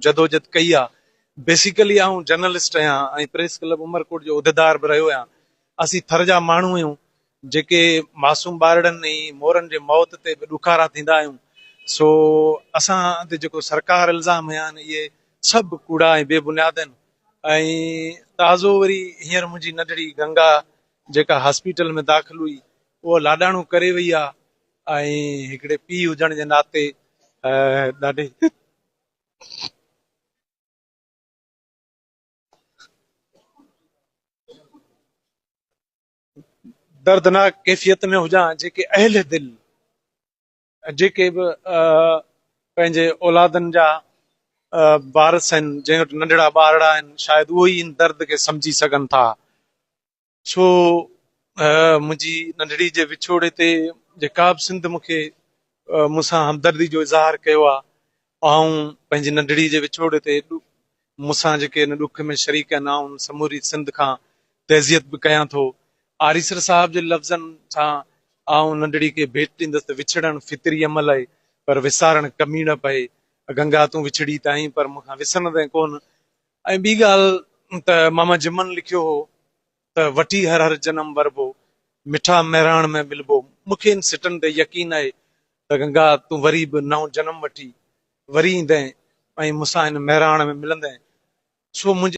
جدوجھد ڪئي آ. بيسيڪلي آئون جرنلسٽ آھيان ۽ پريس ڪلب عمرڪوٽ جو عھديدار به رھيو آھيان. اسين ٿر جا ماڻھو آھيون جيڪي معصوم ٻارڙن ۽ مورن جي موت تي به ڏکارا ٿيندا آھيون سو اسان تي جيڪو سرڪار الزام ھنيا آھن اھي سڀ ڪوڙا ۽ بي بنياد آھن ۽ تازو وري ھينئر منھنجي ننڍڙي گنگا جيڪا ھاسپيٽل ۾ داخل ھئي اھا لاڏاڻو ڪري وئي آ ۽ ھڪڙي پيء ھجڻ جي ناتي ڏاڍي دردناڪ ڪيفيت ۾ هجان جيڪي اهل دل جيڪي به پنهنجي اولادن جا وارث آهن جنهن وٽ ننڍڙا ٻارڙا آهن شايد اهو ئي ان درد کي سمجهي سگهن ٿا ڇو منهنجي ننڍڙي جي وڇوڙي تي جيڪا به سنڌ مون کي مون سان همدردي جو اظهار ڪيو آهي، آئون پنهنجي ننڍڙي جي وڇوڙي تي مون سان جيڪي ان ڏک ۾ شريڪ آهن، آئون سموري سنڌ کان تعزيت به ڪيان ٿو. آريسر صاحب جي لفظن سان آئون ننڍڙي کي ڀيٽ ڏيندس ته وڇڙڻ فطري عمل آهي، پر وسارڻ ڪميڻپ آهي. گنگا تون وڇڙي ته آهين، پر مون کان وسرندين ڪونه. ۽ ٻي ڳالهه ته ماما جمن لکيو هو ته وٺي هر هر جنم وربو، مٺا مهراڻ ۾ ملبو، مون کي ان سٽن تي يقين آهي ته گنگا تون وري به نئون جنم وٺي وري ايندين ۽ مون سان هن مهراڻ ۾ ملندين، سو منهنجي.